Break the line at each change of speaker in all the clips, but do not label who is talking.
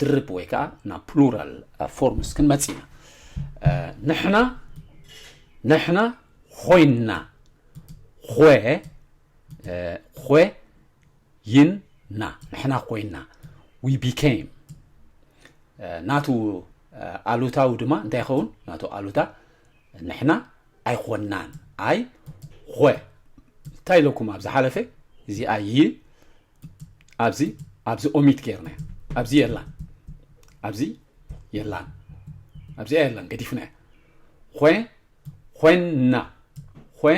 ድርብ ወይ ከዓ ናብ ፕሉራል ፎርምስ ክንመፅ ኢና ንሕና ንሕና ኮይንና ኾ ኾ ይና ንሕና ኮይና ዊ ቢኬም ናቱ ኣሉታዊ ድማ እንታይ ይኸውን ናቱ ኣሉታ ንሕና ኣይኮናን ኣይ ኾ እንታይ ኢለኩም ኣብ ዝሓለፈ እዚ ኣይ ኣብዚ ኣብዚ ኦሚት ገይርናያ ኣብዚ የላን ኣብዚ የላን ኣብዚኣ የላን ገዲፍናያ ኾ ኾና ኾ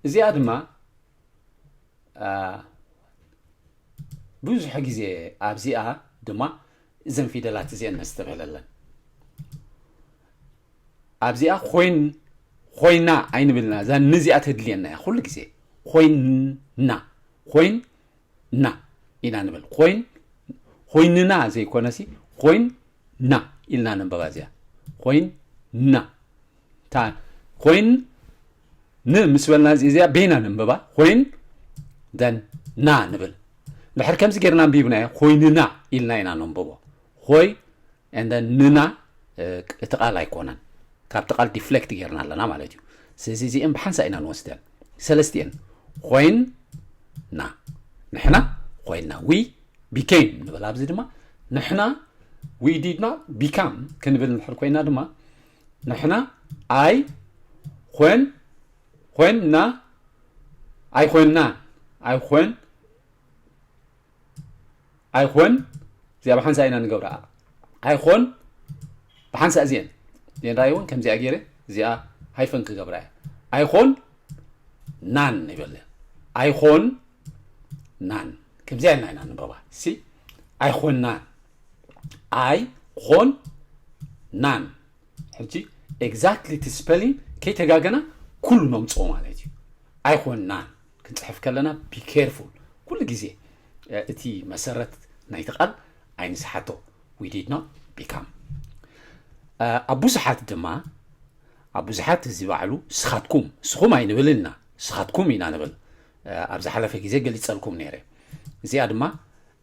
እዚኣ ድማ ብዙሕ ግዜ ኣብዚኣ ድማ እዘን ፊደላት እዚአን ነስተብህለለን ኣብዚኣ ኮይን ኾይና ኣይንብልና እዛ ን እዚኣ ተድልየና እያ ኩሉ ግዜ ኮይንና ኮይን ና ኢና ንብል ኮይን ኮይንና ዘይኮነሲ ኮይን ና ኢልና ነንበባ እዚኣ ኮይን ና እታ ኮይን ን ምስ በልና እዚኣ በይና ነንበባ ኮይን ደን ና ንብል ድሕር ከምዚ ጌርና ኣንቢብናዮ ኮይንና ኢልና ኢና ነንበቦ ኮይንና and then ንና እቲ ቃል ኣይኮነን ካብቲ ቃል ዲፍሌክት ጌርና ኣለና ማለት እዩ ስለዚ እዚአን ብሓንሳ ኢና ንወስደን ሰለስቲአን ኮይንና ንሕና ኮይንና ዊ ቢኬም ንበል ኣብዚ ድማ ንሕና ዊ ዲድ ኖት ቢካም ክንብል ንድሕር ኮይና ድማ ንሕና ኣይ ኮን ኮንና ኣይኮንና ኣይኮን ኣይኮን እዚኣ ብሓንሳእ ኢና ንገብረኣ ኣይኮን ብሓንሳእ እዚአን እዚአን ራእይ እውን ከምዚኣ ገይረ እዚኣ ሃይፈን ክገብራ እያ ኣይኮን ናን ይበለ ኣይኮን ናን ከምዚኣ ኢልና ኢና ንንበባ ሲ ኣይኮን ናን ኣይ ኮን ናን ሕጂ ኤግዛክትሊ እቲ ስፐሊንግ ከይተጋገና ኩሉ ነምፅኦ ማለት እዩ ኣይኮን ናን ክንጽሕፍ ከለና ቢ ኬርፉል ኩሉ ግዜ እቲ መሰረት ናይቲ ቃል ኣይንስሓቶ ዊ ዲድ ኖት ቢካም ኣብ ብዙሓት ድማ ኣብ ብዙሓት እዚ ባዕሉ ስኻትኩም ስኹም ኣይንብልን ኢና ስኻትኩም ኢና ንብል ኣብ ዝሓለፈ ግዜ ገሊፀልኩም ነይረ እዚኣ ድማ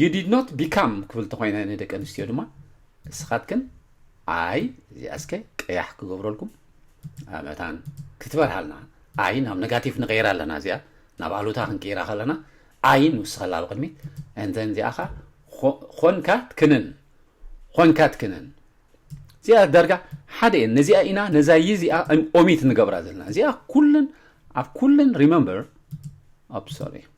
ዩ ዲድ ኖት ቢካም ክብል ተኮይነ ንደቂ ኣንስትዮ ድማ እስኻትክን ኣይ እዚኣ እስከ ቀያሕ ክገብረልኩም መታን ክትበርሃልና ኣይ ናብ ነጋቲቭ ንቀይራ ኣለና እዚኣ ናብ ኣሉታ ክንቀይራ ከለና ኣይ ንውስኸላ ኣብ ቅድሚት እንተን እዚኣ ኸ ኾንካ ትክንን ኾንካ ትክንን እዚኣ ዳርጋ ሓደ እየን ነዚኣ ኢና ነዛ ይ እዚኣ ኦሚት ንገብራ ዘለና እዚኣ ኩለን ኣብ ኩለን ሪመምበር ኣብ ሶሪ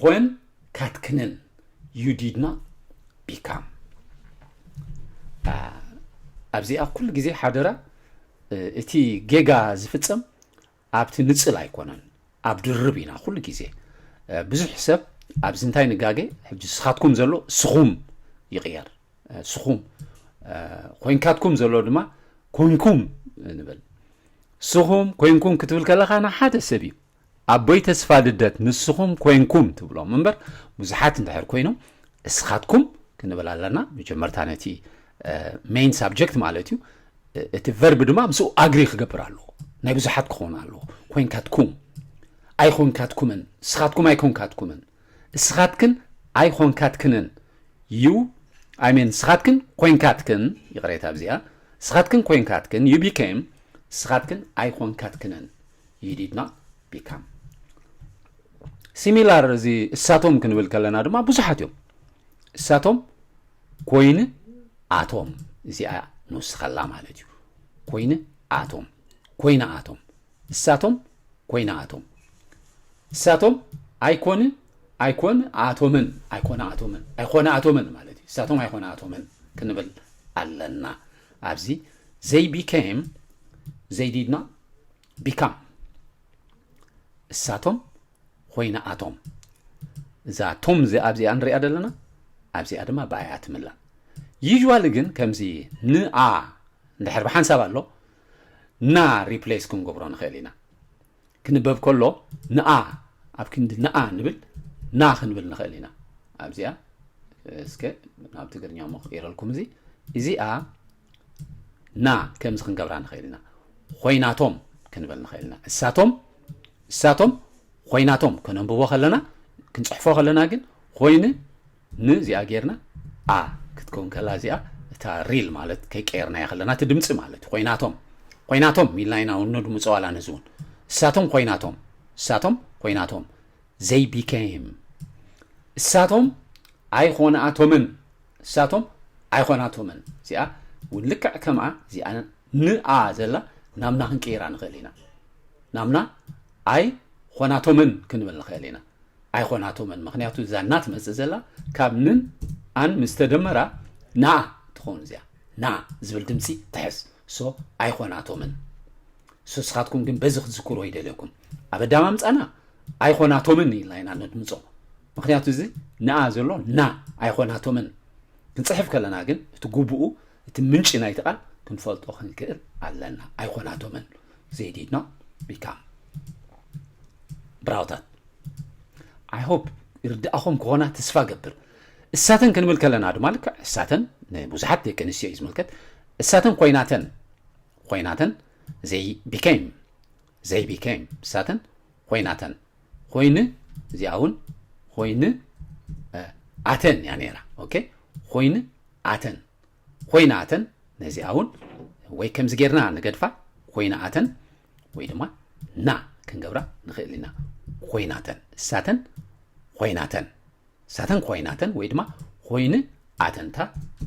ኾን ካትክንን ዩ ዲድና ቢካም ኣብዚኣ ኩሉ ግዜ ሓደራ እቲ ጌጋ ዝፍፀም ኣብቲ ንፅል ኣይኮነን ኣብ ድርብ ኢና ኩሉ ግዜ ብዙሕ ሰብ ኣብዚ እንታይ ንጋገ ሕጂ ስኻትኩም ዘሎ ስኹም ይቕየር ስኹም ኮንካትኩም ዘሎ ድማ ኮንኩም ንብል ስኹም ኮንኩም ክትብል ከለኻ ንሓደ ሰብ እዩ ኣቦይ ተስፋ ልደት ንስኹም ኮንኩም ትብሎም እምበር ብዙሓት እንድሕር ኮይኖም እስኻትኩም ክንብል ኣለና መጀመርታ ነቲ ሜን ሳብጀክት ማለት እዩ እቲ ቨርቢ ድማ ምስኡ ኣግሪ ክገብር ኣለዎ ናይ ብዙሓት ክኸውን ኣለዎ ኮንካትኩም ኣይኮንካትኩምን እስኻትኩም ኣይኮንካትኩምን እስኻትክን ኣይኮንካትክንን ዩ ኣይሜን እስኻትክን ኮንካትክን ይቕሬታ ኣብዚኣ እስኻትክን ኮንካትክን ዩ ቢኬም እስኻትክን ኣይኮንካትክንን ዩ ዲድ ኖት ቢካም ሲሚላር እዚ እሳቶም ክንብል ከለና ድማ ብዙሓት እዮም እሳቶም ኮይኑ ኣቶም እዚኣ ንውስኸላ ማለት እዩ ኮይኑ ኣቶም ኮይና ኣቶም እሳቶም ኮይና ኣቶም እሳቶም ኣይኮን ኣይኮን ኣቶምን ኣይኮነ ኣቶምን ኣይኮነ ኣቶምን ማለት እዩ እሳቶም ኣይኮነ ኣቶምን ክንብል ኣለና ኣብዚ ዘይ ቢኬም ዘይ ዲድ ኖት ቢካም እሳቶም ኮይና ኣቶም እዛ ቶም እዚኣ ኣብዚኣ ንሪኣ ዘለና ኣብዚኣ ድማ ብኣይኣ ትምላእ ዩዥዋሊ ግን ከምዚ ንኣ እንድሕር ብሓንሳብ ኣሎ ና ሪፕሌስ ክንገብሮ ንኽእል ኢና ክንበብ ከሎ ንኣ ኣብ ክንዲ ንኣ ንብል ና ክንብል ንኽእል ኢና ኣብዚኣ እስከ ናብ ትግርኛ ሞ ክቅይረልኩም እዚ እዚኣ ና ከምዚ ክንገብራ ንኽእል ኢና ኾይናቶም ክንብል ንኽእል ኢና እሳቶም እሳቶም ኾይናቶም ከነንብቦ ከለና ክንፅሕፎ ከለና ግን ኾይኒ ን እዚኣ ጌርና ኣ ክትከውን ከላ እዚኣ እታ ሪል ማለት ከይቀየርናያ ከለና እቲ ድምፂ ማለት እዩ ኾይናቶም ኾይናቶም ኢልና ኢና ነድምፆ ዋላ ነዚ እውን እሳቶም ኾይናቶም እሳቶም ኾይናቶም ዘይ ቢኬም እሳቶም ኣይኾነኣቶምን ንሳቶም ኣይኮናቶምን እዚኣ ውን ልክዕ ከምኣ እዚኣ ንኣ ዘላ ናምና ክንቅይራ ንኽእል ኢና ናምና ኣይ ኾናቶምን ክንብል ንኽእል ኢና ኣይኾናቶምን ምክንያቱ እዛ እና ትመፅእ ዘላ ካብ ንን ኣን ምስተደመራ ናኣ ትኸውን እዚኣ ና ዝብል ድምፂ ትሕዝ so ኣይኾናቶምን so ስኻትኩም ግን በዚ ክትዝክሮ ይደልየኩም ኣብ ኣዳማ ምፃና ኣይኾናቶምን ኢልና ኢና ነድምፆ ምክንያቱ እዚ ንኣ ዘሎ ና ኣይኾናቶምን ክንፅሕፍ ከለና ግን እቲ ጉቡኡ እቲ ምንጪ ናይቲ ቃል ክንፈልጦ ክንክእል ኣለና ኣይኮናቶምን ዜዲድና ቢካም ብራውታት ኣይ ሆፕ ይርድኣኹም ክኾና ተስፋ ገብር እሳተን ክንብል ከለና ድማ ልክዕ እሳተን ንብዙሓት ደቂ ኣንስትዮ እዩ ዝምልከት እሳተን ኮይናተን ኾይናተን ዘይ ቢከይም ዘይ ቢከይም እሳተን ኾይናተን ኾይን እዚኣ እውን ኾይን ኣተን እያ ነይራ ኦኬ ኾይን ኣተን ኾይና ኣተን ነዚኣ እውን ወይ ከምዚ ጌርና ንገድፋ ኮይና ኣተን ወይ ድማ ና ክንገብራ ንኽእል ኢና ኮይናተን እሳተን ኮይናተን ሳተን ኮይናተን ወይ ድማ ኮይኑ ኣተንታ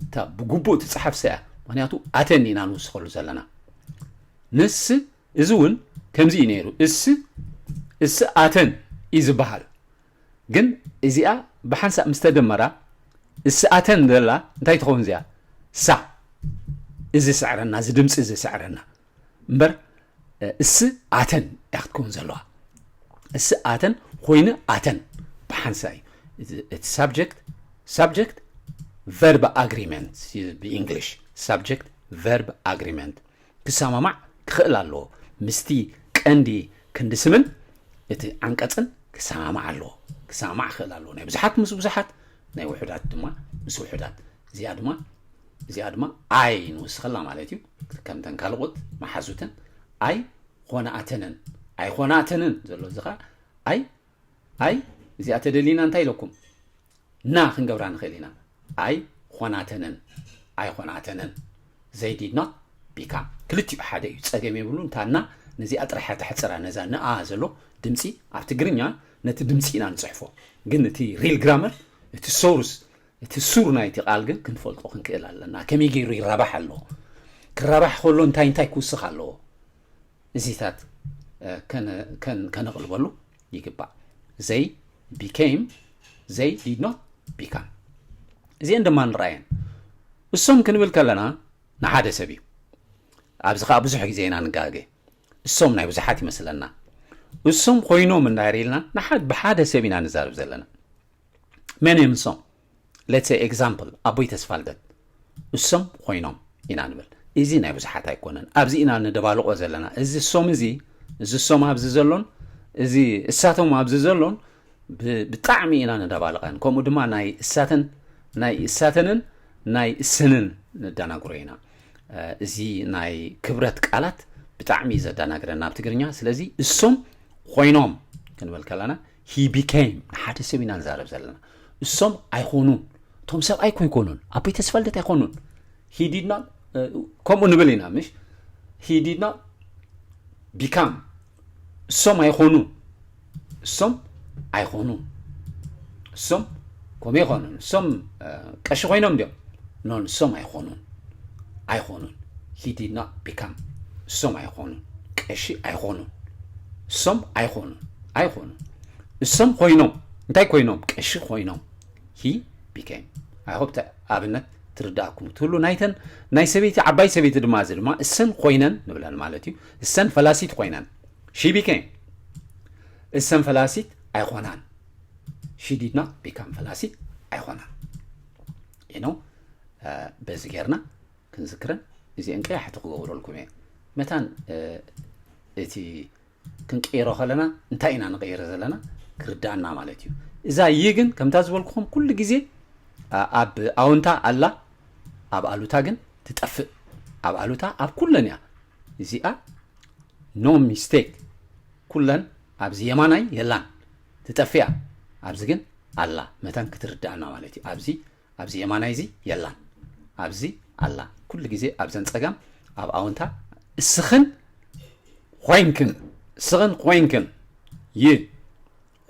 እታ ብግቡእ ትፅሓፍ ሰያ ምክንያቱ ኣተን ኢና ንውስኸሉ ዘለና ንስ እዚ እውን ከምዚ እዩ ነይሩ እስ እስ ኣተን እዩ ዝበሃል ግን እዚኣ ብሓንሳእ ምስ ተደመራ እስ ኣተን ዘላ እንታይ ትኸውን እዚኣ ሳ እዚ ስዕረና እዚ ድምፂ እዚ ስዕረና እምበር እስ ኣተን እያ ክትከውን ዘለዋ እስ ኣተን ኮይኑ ኣተን ብሓንሳ እዩ እቲ ሳብጀክት ሳብጀክት ቨርብ ኣግሪመንት ብእንግሊሽ ሳብጀክት ቨርብ ኣግሪመንት ክሰማማዕ ክኽእል ኣለዎ ምስቲ ቀንዲ ክንዲ ስምን እቲ ዓንቀፅን ክሰማማዕ ኣለዎ ክሰማማዕ ክኽእል ኣለዎ ናይ ብዙሓት ምስ ብዙሓት ናይ ውሑዳት ድማ ምስ ውሑዳት እዚኣ ድማ እዚኣ ድማ ኣይ ንውስኸላ ማለት እዩ ከምተን ካልኦት መሓዙተን ኣይ ኾናኣተንን ኣይ ኾናተንን ዘሎ እዚ ኸዓ ኣይ ኣይ እዚኣ ተደሊና እንታይ ኢለኩም ና ክንገብራ ንኽእል ኢና ኣይ ኾናተንን ኣይ ኾናተንን ዘይዲድና ቢካም ክልቲኡ ሓደ እዩ ፀገም የብሉ እንታና ነዚኣ ጥራሕ ተሕፅራ ነዛ ንኣ ዘሎ ድምፂ ኣብ ትግርኛ ነቲ ድምፂ ኢና ንፅሕፎ ግን እቲ ሪል ግራመር እቲ ሶርስ እቲ ሱር ናይቲ ቃል ግን ክንፈልጦ ክንክእል ኣለና፣ ከመይ ገይሩ ይራባሕ ኣሎ፣ ክራባሕ ከሎ እንታይ እንታይ ክውስኽ ኣለዎ፣ እዚታት ከነቕልበሉ ይግባእ። They became, they did not become። እዚአን ድማ ንርኣየን። እሶም ክንብል ከለና ንሓደ ሰብ እዩ። ኣብዚ ከዓ ብዙሕ ግዜ ኢና ንጋገ። እሶም ናይ ብዙሓት ይመስለና። እሶም ኮይኖም እንዳር ኢልና ንሓድ ብሓደ ሰብ ኢና ንዛርብ ዘለና። መን እዮም ንሶም ሌትሰ ኤግዛምፕል ኣቦይ ተስፋ ልደት እሶም ኮይኖም ኢና ንብል እዚ ናይ ብዙሓት ኣይኮነን ኣብዚ ኢና ንደባልቆ ዘለና እዚ ሶም እዚ እዚ ሶም ኣብዚ ዘሎን እዚ እሳቶም ኣብዚ ዘሎን ብጣዕሚ ኢና ንደባልቀን ከምኡ ድማ ናይ እሳተን ናይ እሳተንን ናይ እሰንን ንደናግሮ ኢና እዚ ናይ ክብረት ቃላት ብጣዕሚ ዘደናግረና ኣብ ትግርኛ ስለዚ እሶም ኮይኖም ክንብል ከለና ሂ ቢከይም ንሓደ ሰብ ኢና ንዛረብ ዘለና እሶም ኣይኮኑን እቶም ሰብኣይ ኮ ኣይኮኑን ኣቦይ ተስፋልደት ኣይኮኑን ሂዲድና ከምኡ ንብል ኢና ምሽ ሂዲድና ቢካም እሶም ኣይኮኑን እሶም ኣይኮኑን እሶም ኮሜ ይኾኑ ንሶም ቀሺ ኮይኖም ድዮም ኖ ንሶም ኣይኾኑን ኣይኾኑን ሂ ዲድ ኖት ቢካም እሶም ኣይኾኑን ቀሺ ኣይኾኑን እሶም ኣይኾኑን ኣይኾኑን እሶም ኮይኖም እንታይ ኮይኖም ቀሺ ኮይኖም ሂ ቢኬም ኣይሆፕ ኣብነት ትርዳእኩም ትብሉ ናይተን ናይ ሰበይቲ ዓባይ ሰበይቲ ድማ እዚ ድማ እሰን ኮይነን ንብለን ማለት እዩ እሰን ፈላሲት ኮይነን ሺ ቢኬም እሰን ፈላሲት ኣይኮናን ሽዲድና ቢካም ፈላሲ ኣይኮናን ኢኖ በዚ ጌርና ክንዝክረን እዚአን ቀያሕቲ ክገብረልኩም እየ መታን እቲ ክንቅይሮ ከለና እንታይ ኢና ንቀይረ ዘለና ክርዳእና ማለት እዩ እዛ ይ ግን ከምታ ዝበልኩኹም ኩሉ ግዜ ኣብ ኣውንታ ኣላ ኣብ ኣሉታ ግን ትጠፍእ ኣብ ኣሉታ ኣብ ኩለን እያ እዚኣ ኖ ሚስቴክ ኩለን ኣብዚ የማናይ የላን ትጠፍእ እያ ኣብዚ ግን ኣላ መታን ክትርደኣና ማለት እዩ ኣብዚ ኣብዚ የማናይ እዚ የላን ኣብዚ ኣላ ኩሉ ግዜ ኣብዘን ጸጋም ኣብ ኣውንታ እስኽን ኾይንክን እስኽን ኾይንክን ይ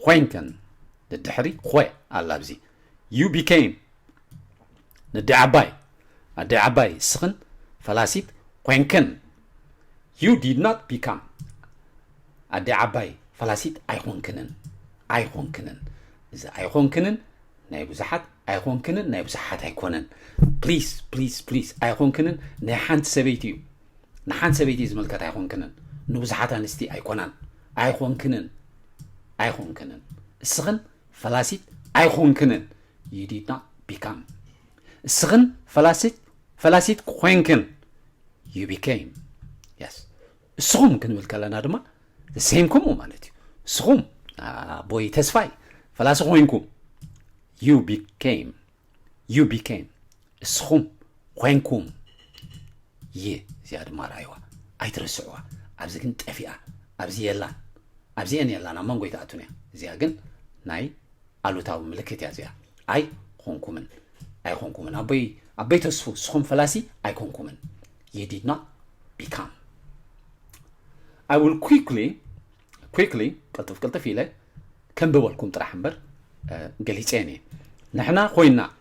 ኾይንክን ንድሕሪ ኾይ ኣላ ኣብዚ ዩ ቢኬም ንዲ ዓባይ ኣዲ ዓባይ እስኽን ፈላሲት ኾይንክን You did not become ኣደይ ዓባይ ፈላሲት ኣይኾንክንን ኣይኾንክንን እዚ ኣይኾንክንን ናይ ብዙሓት ኣይኾንክንን ናይ ብዙሓት ኣይኮነን ፕሊስ ፕሊስ ፕሊስ ኣይኾንክንን ናይ ሓንቲ ሰበይቲ እዩ ንሓንቲ ሰበይቲ ዝምልከት ኣይኾንክንን ንብዙሓት ኣንስቲ ኣይኮናን ኣይኾንክንን ኣይኾንክንን እስኽን ፈላሲት ኣይኾንክንን you did not become እስኽን ፈላሲት ፈላሲት ኮይንክን ዩ ቢኬም የስ እስኹም ክንብል ከለና ድማ ሴም ከምኡ ማለት እዩ እስኹም ኣቦይ ተስፋይ ፈላሲ ኮይንኩም ዩ ቢኬም ዩ ቢኬም እስኹም ኮይንኩም ይ እዚኣ ድማ ርኣይዋ ኣይትረስዕዋ ኣብዚ ግን ጠፊኣ ኣብዚ የላን ኣብዚኤን የላን ኣብ መንጎ ይትኣቱን እያ እዚኣ ግን ናይ ኣሉታዊ ምልክት እያ እዚኣ ኣይ ኾንኩምን ኣይኮንኩምን ኣቦይ ኣቦይ ተስፉ ንስኹም ፈላሲ ኣይኮንኩምን you did not become I will quickly quickly ቅልጥፍ ቅልጥፍ ኢለ ከንብበልኩም ጥራሕ እምበር ገሊፀን እየ ንሕና ኮይና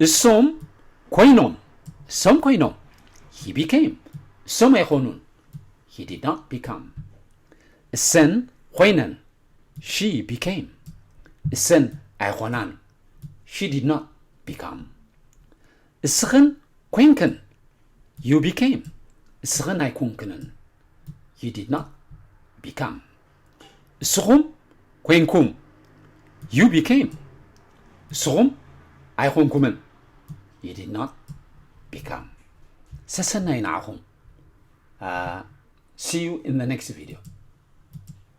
እሶም ኮይኖም እሶም ኮይኖም ሂ ቢኬም እሶም ኣይኾኑን ሂ ዲድ ናት ቢካም እሰን ኮይነን ሺ ቢኬም እሰን ኣይኾናን ሺ ዲድ ናት ቢካም እስኽን ኮይንክን ዩ ቢኬም እስኽን ኣይኮንክንን ዩ ዲድ ናት ቢካም እስኹም ኮይንኩም ዩ ቢኬም እስኹም ኣይኮንኩምን ዩ ዲድ ኖት ቢካም ሰሰናዩ ንዓኹም ሲዩ ኢን ኔክስት ቪድዮ